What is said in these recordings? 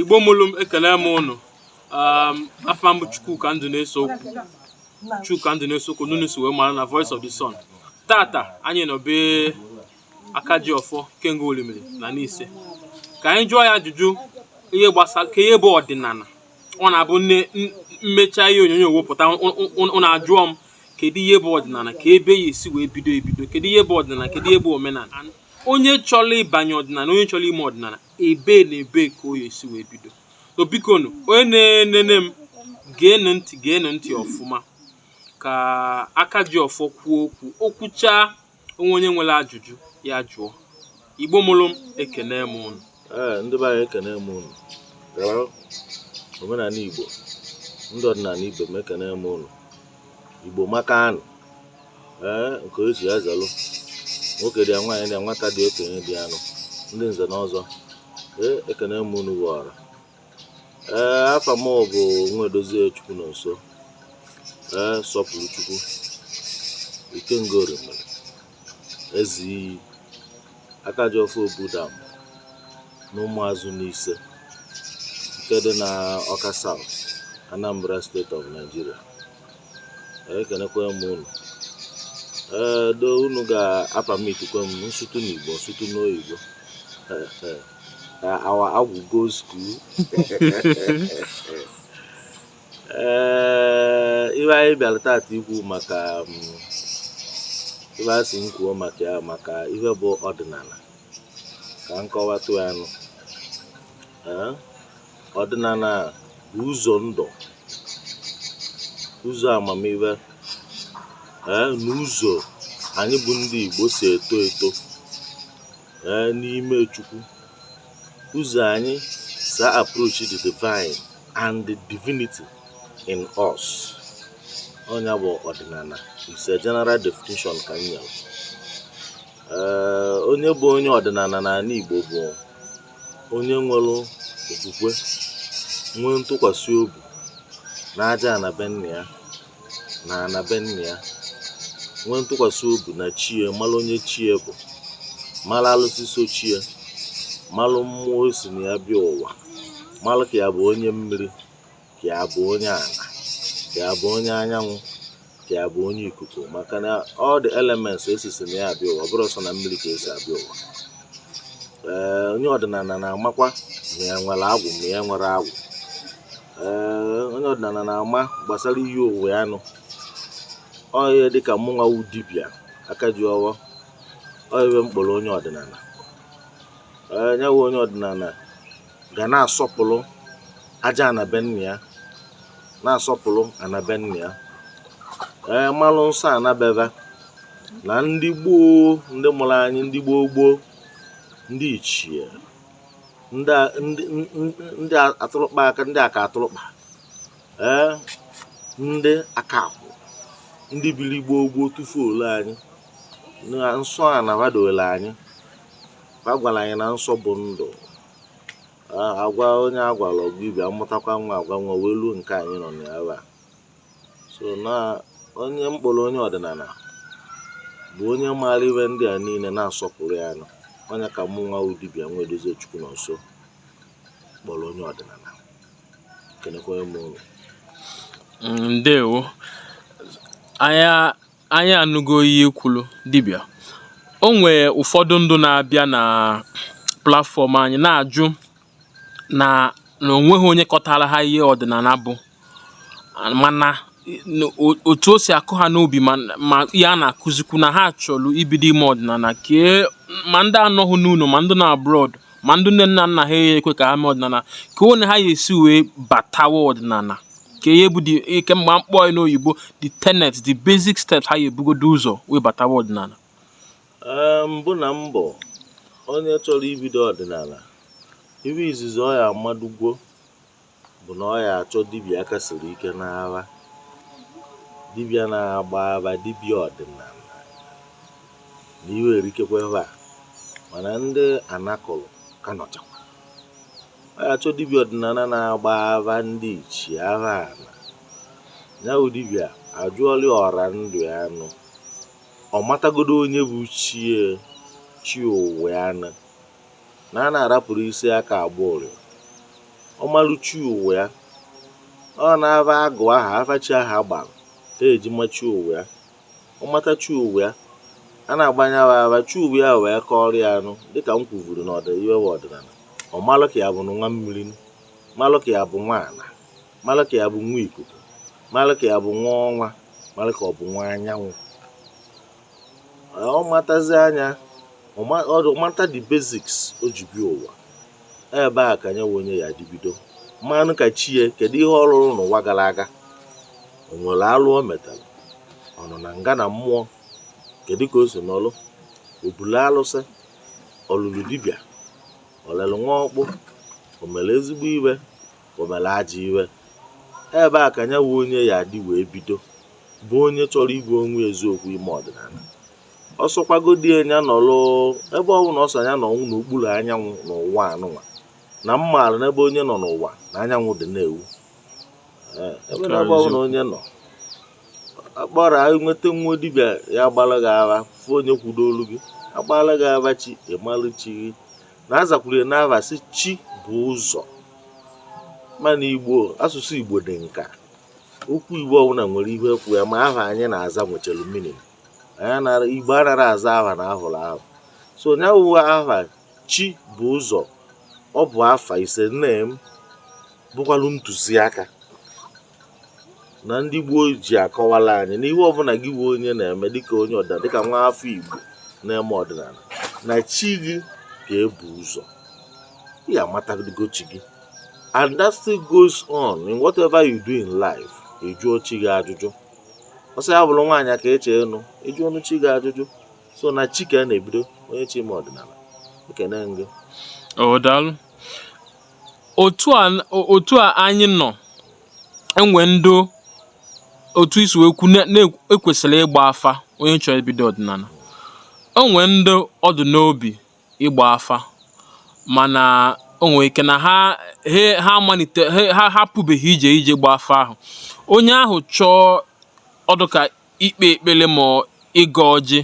igbo mụrụ m ekele m ụnụ um, afa m bụ chukwuka ndụneseokwu chuka ndụneseokwu n'ụnụ si wee mara na voice of the sun tata anyị nọ be aka ji ọfọ ikenga orimiri na nise ka anyị jụọ ya ajụjụ ihe gbasara kee ihe bụ ọdịnala ọ na-abụ m mechaa ihe onyonyo wepụta ụnụ ajụọ m kedu ihe bụ ọdịnala kee ebe ya esi wee bido ebido kedu ihe bụ ọdịnala kedu ihe bụ omenala onye chọrọ ịbanye ọdịnala onye chọrọ ime ọdịnala ebe na ebe ka ọ ya-esi wee bido so biko nụ onye na-enene m geenụ ntị geenụ ntị ọfụma ka aka ji ọfọ kwuo okwu o kwuchaa o nwee onye nwere ajụjụ ya jụọ igbo mụrụ m ekene m ụnụ ee ndị be anyị ekene m ụnụ gara omenala igbo ndị ọdịnala ibe m ekene m ụnụ igbo maka anụ ee nke o si ya zelụ nwoke dị ya nwaanyị dị ya nwata dị okenye dị ya nụ ndị nze na ọzọ ee ekene m unu ghọrọ ee afa m bụ nwaedozie chukwunọnso ee sọpụrụchukwu ikenga orimiri Ezi, Akajiọfọ Obudam na Ụmụazụ Nise nke dị na Ọka South, Anambra State of Nigeria. Ekenekwa m unu. Ee, though unu ga-apamitikwa m m sụtụ n'Igbo, m sụtụ n'oyibo. Ee, ee. Ka our agwụ go school. ee ihe anyị bịara tata ikwu maka um, ife a sị m kwuo maka ya maka ihe bụ ọdịnala ka m kọwatụ ya nụ Ee, ọdịnala bụ ụzọ ndụ ụzọ amamihe ee na ụzọ anyị bụ ndị Igbo si eto eto ee n'ime Chukwu ụzọ anyị si approach the divine and the divinity in us ọ nya bụ ọdịnala it's a general definition ka m nyere onye bụ onye ọdịnala n'ala Igbo bụ onye nwere okwukwe nwee ntụkwasị obi n'aja ana be nna ya na ana be nna ya nwee ntụkwasị obi na chi e mara onye chi e bụ mara alụsị so chi e mara mmụọ o si na ya bịa ụwa mara ka ya bụ onye mmiri ka ya bụ onye ala ka ya bụ onye anyanwụ ka ya bụ onye ikuku maka na all the elements e sisi na ya abịa ụwa ọ bụrọ sọ na mmiri ka e si abịa ụwa ee onye ọdịnala na-amakwa ma ya nwere agwụ ma ya enwerọ agwụ ee onye ọdịnala na-ama gbasara iyi ụwa ya nụ onye dịka mụnwa wu dibịa aka ji ọfọ ọ ya m kpọrọ onye ọdịnala ee nya wu onye ọdịnala ga na-asọpụrụ aja ana be nna ya na-asọpụrụ ana be nna ya ee malụ nsọ ana be ha na ndị gboo ndị mụrụ anyị ndị gboo gboo ndị ichie ndị atụrụkpa aka ndị aka atụrụkpa ee ndị aka akwụ ndị biri gboo gboo tupu o lue anyị na nsọ ana ha doole anyị ha gwara anyị na nsọ bụ ndụ a gwa onye a gwala ọ gwa ibe a mụtakwa nwa a gwa nwa wee ruo nke anyị nọ na ya so na onye m kpọrọ onye ọdịnala bụ onye maara ife ndị a niile na-asọpụrụ ya nụ onye ka mụ nwa wu dibịa nwaedozie chukwunọnso kpọrọ onye ọdịnala kenekwa m unu ndewo anyị anụgo ihe i kwulu dibịa o nwee ụfọdụ ndụ na-abịa na platfọm anyị na-ajụ na na o nweghị onye kọtara ha ihe ọdịnala bụ mana otu o si akụ ha n'obi ma ihe a na-akụzikwu na ha chọrọ ibido ime ọdịnala kee ma ndị anọghị n'ụlọ ma ndị nọ abroad ma ndị nne na nna ha ya ekwe ka ha mee ọdịnala ka one ha ya esi wee batawa ọdịnala ka ihe bụ ihe m ga-akpọ n'oyibo the tenets the basic steps ha ya ebugodo ụzọ wee batawa ọdịnala mbụ na mbụ onye chọrọ ibido ọdịnala ife izizi ọ ya amadugwo bụ na ọ ya achọ dibịa aka siri ike n'afa dibịa na-agba afa dibịa ọdịnala na ife erikekwa ebe a mana ndị ana kulu ka nọchakwa ọ ya achọ dibịa ọdịnala na-agba afa ndị ichie afa ala ya bụ dibịa ajụọla ọra ndụ ya nụ ọ matagodo onye bụ chi ya chi ụwa ya nụ na a na-arapụrụ isi aka agba ụrịọ ọ malụ chi ụwa ya ọ n'afa agwụ aha afa chi aha gbara ka eji ma chi ụwa ya ọ mata chi ụwa ya a na-agbanyewe afa chi ụwa ya wee kọrọ ya nụ dịka m kwuvuru na ọ dị ife wu ọdịnala ọ malụ ka ya bụ nwa mmiri malụ ka ya bụ nwa ala mara ka ya bụ nwa ikuku mara ka ya bụ nwa ọnwa mara ka ọ bụ nwa anyanwụ ọ matazia nya ọ mata the basics o ji bịa ụwa ebe a ka nya wu onye ya adị bido ma nụ ka chi ya kedu ihe ọ rụrụ n'ụwa gara aga o nwere alụ o metara ọ nọ na nga na mmụọ kedu ka o si nọlụ o bulu alụsị ọ lụlụ dibịa o lelu nwa ọkpụ o mere ezigbo ife o mere ajọ iwe ebe a ka nya wụ onye ya-adị wee bido bụ onye chọrọ ịgwa onwe eziokwu ime ọdịnala ọ sọkwagodi nya nọrọ ebe ọ bụla ọ sọ nya nọrọ n'okpuru anyanwụ n'ụwa nụnwa na m maara n'ebe onye nọ n'ụwa na anyanwụ dị na-ewu ebe na ebe ọ bụla onye nọ akpọrọ nweta nwa dibịa ya-agbara gị afa fụ onye kwudo olu gị agbara gị afa chi ị malụ chi gị na-azakwuru ya n'afa sị chi bụ ụzọ mana igbo asụsụ igbo dị nka okwu igbo ọbụla nwere ihe kwụ ya ma aha anyị na-aza nwechara meaning igbo anaghị aza aha na a hụrụ aha so nya wụ aha chi bụ ụzọ ọ bụ afa is a name bụkwalụ ntụziaka na ndị gboo ji akọwala anyị na ihe ọbụla gị bụ onye na-eme dịka onye ọda dịka nwa afọ Igbo na-eme ọdịnala na chi gị ka ebu ụzọ ị ya-amatago chi gị and that still goes on in whatever you do in life ị jụọ chi gị ajụjụ ọ sọ ya bụrụ nwaanyị ka ị chọ ịnụ ị jụọnụ chi gị ajụjụ so na chi ka a na-ebido onye chọ ime ọdịnala ekene m gị o daalụ otu a otu a anyị nọ e nwee ndị otu i si wee kwu na e kwesịrị ịgba afa onye chọrọ ibido ọdịnala o nwee ndị ọ dụ n'obi ịgba afa mana o nwee ike na ha ha amalite ha ha apụbeghị ije ije gba afa ahụ onye ahụ chọọ ọ dụ ka ikpe ekpere ma ịgọ ọjị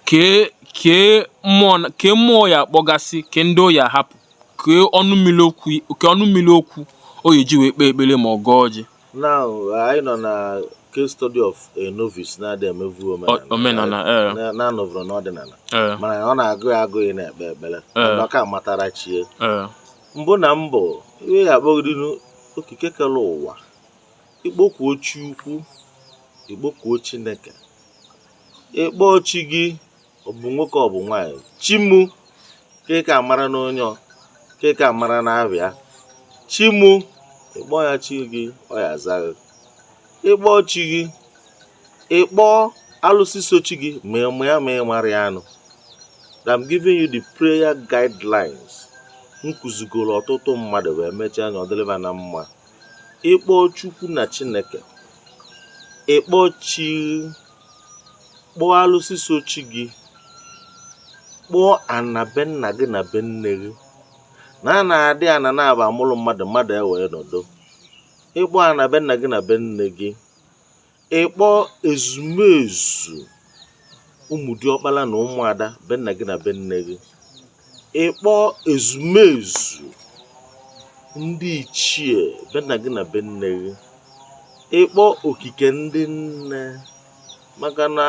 kee kee mmụọ kee mmụọ ọ ya-akpọgasị kee ndị ọ ya-ahapụ kee ọnụ mmiri okwu kee ọnụ mmiri okwu ọ ya-eji wee kpee ekpere ma ọ gọọ ọjị now anyị nọ na case study of a novice na-adị emevu omenala na-anọvụrụ n'ọdịnala mana ọ na-agụ ya agụụ ịna-ekpe ekpere ndị ọka matara chi ya mbụ na mbụ ị ya-akpọgodinụ okike kere ụwa i kpokuo chi ukwu i kpokuo chineke ị kpọọ chi gị ọ bụ nwoke ọ bụ nwaanyị chi mụ ka ka mara na onye ka ka mara na abịa chi mụ ị kpọọ ya chi gị ọ ya-aza gị ị kpọọ chi gị ị kpọọ alụsị so chi gị ma ị ma ya ma ị marọ ya now I'm giving you the prayer guidelines m kụzigoro ọtụtụ mmadụ wee mechaa nya ọ dịrị va na mma ị kpọọ chukwu na chineke ị kpọọ chi gị kpọọ alụsị so chi gị kpọọ ana be nna gị na be nne gị na a na-adị ana n'ebe a mụrụ mmadụ mmadụ ewee nọdụ ị kpọọ ana be nna gị na be nne gị ịkpọ ezumezu ụmụ diọkpala na ụmụada be nna gị na be nne gị ịkpọ ezumezu ndị ichie be nna gị na be nne gị ịkpọ okike ndị nne maka na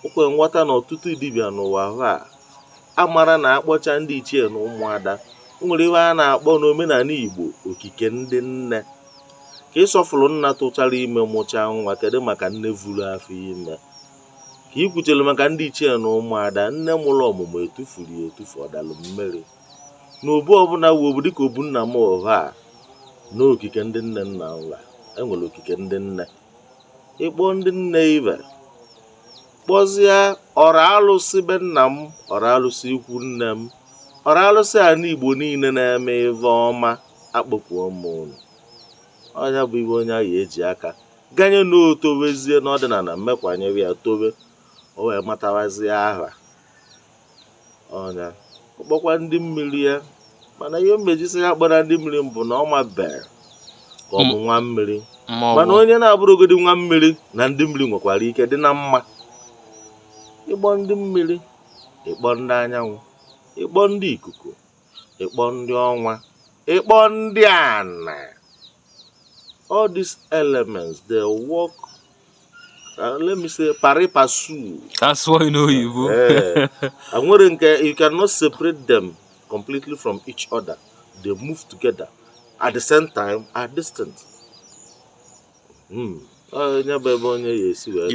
o kwe nghọta na ọtụtụ dibịa n'ụwa ahụ a amara na akpọcha ndị ichie na ụmụada o nwere ihe a na-akpọ n'omenana igbo okike ndị nne ka ị sọfụrụ nna tụchara ime mụchaa nwa kedu maka nne vuru afọ ime ka ị kwuchere maka ndị ichie na ụmụada nne mụrụ ọmụmụ etufuru ya etufu ọ dalụ mmiri na obu ọbụla wu obu dịka obu nna m ọha a na okike ndị nne nna nwa enwere okike ndị nne ịkpọ ndị nne i wee kpọzie ọra alụsị be nna m ọra alụsị ikwu nne m ọra alụsị ana igbo niile na-eme ive ọma akpọkuo m unu ọ nya bụ ive onye ahụ eji aka ganye na otowezie n'ọdịnana mmekwanyere ya towe o wee matawazie aha ọ nya ọ kpọkwa ndị mmiri ya mana ihe m eji sị ya akpọna ndị mmiri mbụ na ọ mabere ka ọ bụ nwa mmiri mana onye na-abụrụgodi nwa mmiri na ndị mmiri nwekwara ike dị na mma ịkpọ ndị mmiri ịkpọ ndị anyanwụ ịkpọ ndị ikuku ịkpọ ndị ọnwa ịkpọ ndị ana all these elements they work Uh, let me say pari passu. That's why you know Igbo. Eh, and when you cannot separate them completely from each other. They move together. At the same time, are distinct. Mm.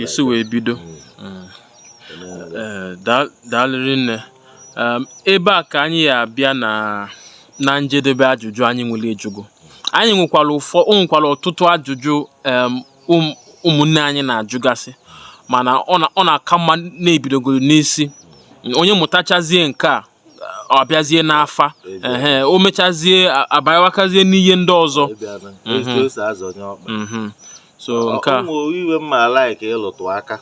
esi wee bido hmm. Hmm. Eh, daalụ rinne um, ebe a ka anyị ya abịa na na njedebe ajụjụ anyị nwere ịjụgo anyị nwekwara ụfọ o nwekwara ọtụtụ ajụjụ um, ụmụnne anyị na-ajụgasị mana ọ na-aka mma na ebidogoro n'isi onye mụtachazie nke a ọ bịazie n'afa ehe o mechazie abawakazie n'ihe ndị ọzọ mhm. so nke a ive m ma like ịlụtụ aka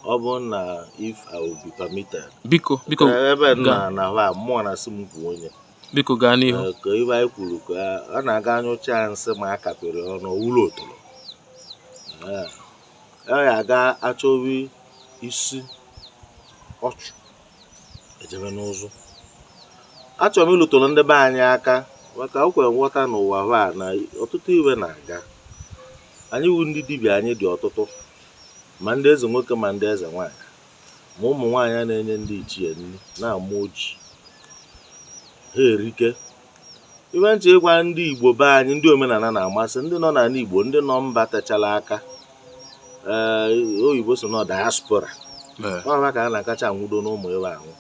ọ bụ na if I will be permitted biko biko ebe na na mmụọ na-asị m kwuo onye biko gaa n'ihu Ee, ka ive anyị kwuru ka ọ na-aga anyụcha nsị ma a kapịrị ọnụ ọ wụrụ otoro Ee. ọ ya aga achọwa isi ọchụ ejebe n'ụzụ achọrọ m ịlụtụrụ ndị be anyị aka maka o kwe nghọta n'ụwa hụ a na ọtụtụ ive na-aga anyị wu ndị dibịa anyị dị ọtụtụ ma ndị eze nwoke ma ndị eze nwaanyị ma ụmụ nwaanyị a na-enye ndị ichie nri na-ama ọjị ha erike iwe m chọ ịgwa ndị igbo be anyị ndị omenala na-amasị ndị nọ n'ala igbo ndị nọ mba techara aka ee eh, oyibo sị na diaspora ọ ha ka a na-akacha anwụdo n'ụmụ iwe anwụ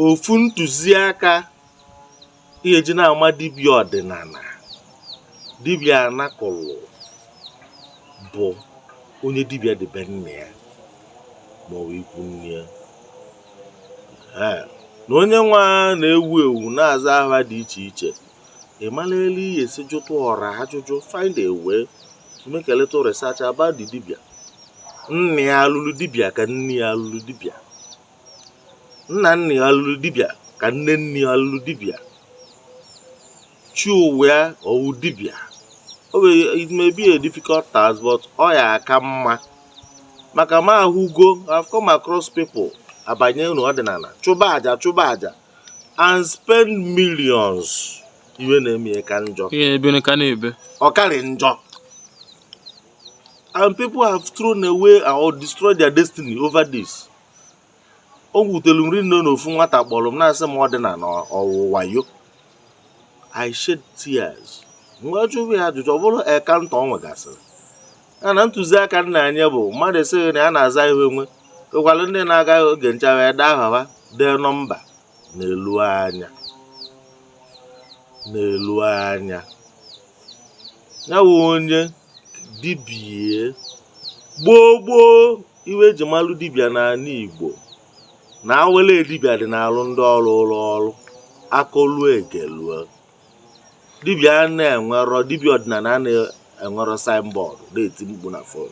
ofu ntụziaka ihe eji na-ama dibịa ọdịnala dibịa anakọlụ bụ onye dibịa dị be nna ya ma ọ bụ ikwu nne ya na onye nwa na-ewu ewu na-aza aha dị iche iche ị mara elu ị ya-esi jụtụ ọra ajụjụ find a way to make a little research about the dibia nna ya alụlụ dibia ka nne ya alụlụ dibia nna nna ya lụrụ dibịa ka nne nne ya lụrụ dibịa chi ụwa ya ọ wụ dibịa it may be a difficult task but ọ ya aka mma maka m ahụgo I've come across people abanyenụ ọdịnala chụba aja chụba aja and spend millions iwe na-eme ya ka njọ ihe ebe ka na-ebe ọ karị njọ and people have thrown away or destroyed their destiny over this o wutelu m rinne na ofu nwata kpọrọ m na-asị m ọdịnala ọ wụ wayo I shed tears m wee jụba ya ajụjụ ọ bụrụ encounter ọ nwegasịrị ya na ntụziaka m na-enye bụ mmadụ sị gị na ya na-aza ihe onwe ekwalụ ndị na-aga oge ncha ede aha ha dee nọmba nelu anya nelu anya ya onye dibịa gboo gboo iwe eji malụ dibịa n'ala Igbo na awele dibịa dị na-alụ ndị ọ rụụrụ ọrụ akọlụ egelue dibịa na-enwerọ dibịa ọdịnala na-enwerọ signboard na-eti mkpu na fon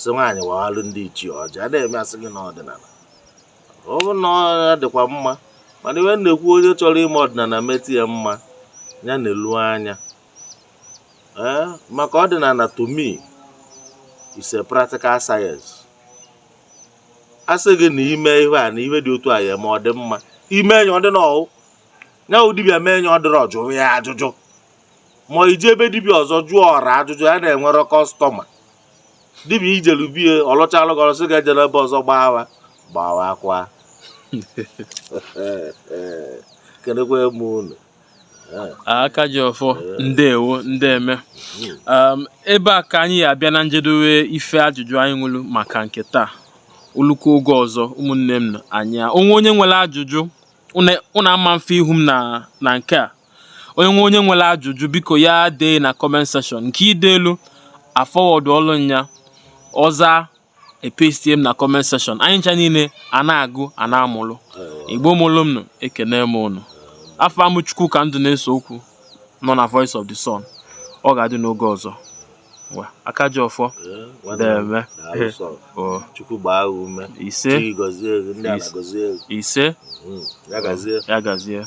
sị nwaanyị waghalụ ndị ichie ọjị a na-eme asị gị n'ọdịnala ọ bụ na ọ dịkwa mma mana iwe m na-ekwu onye chọrọ ime ọdịnala metụ ya mma ya nelu anya ee eh, maka ọdịnala to me is a practical science asị gị na ime ihe a na ihe dị otu a ya-eme ọ dị mma i mee nya ọ dịrọ nya wụ dibịa mee nya ọ dịrọ jụọ ya ajụjụ ma i jee be dibia ọzọ jụọ ọra ajụjụ ya na-enwere customer dibia i jelu be ya ọ lụchalụ gị ọ lụsị ga-ejere ebe ọzọ gbawa gbawa akwa kenekwa m unu aka ji ọfọ ndewo ndeme um, ebe a ka anyị ya-abịa na njedowe ife ajụjụ anyị nwelu maka nke taa o lukwu oge ọzọ ụmụnne m na anyị o nwee onye nwere ajụjụ unu ama mfe ihu m na nke a onye nwe onye nwere ajụjụ biko ya dee na comment section nke i deelu a forwardụọlụ nya ọ zaa e pastie m na comment section anyị ncha niile a na-agụ a na-amụlụ igbo mụlụ m nụ ekene m ụnụ afa m bụ Chukwuka Ndụneseokwu nọ na Voice of the Sun ọ ga-adị n'oge ọzọ ngwa aka ji ọfọ Eh, nwanne m, deme daalụ sọ. o Chukwu gbaa gị ume ise Chi gọzie gị, ndị a Ise. na-agọzi gị. ise Mm, ya gazie ya gazie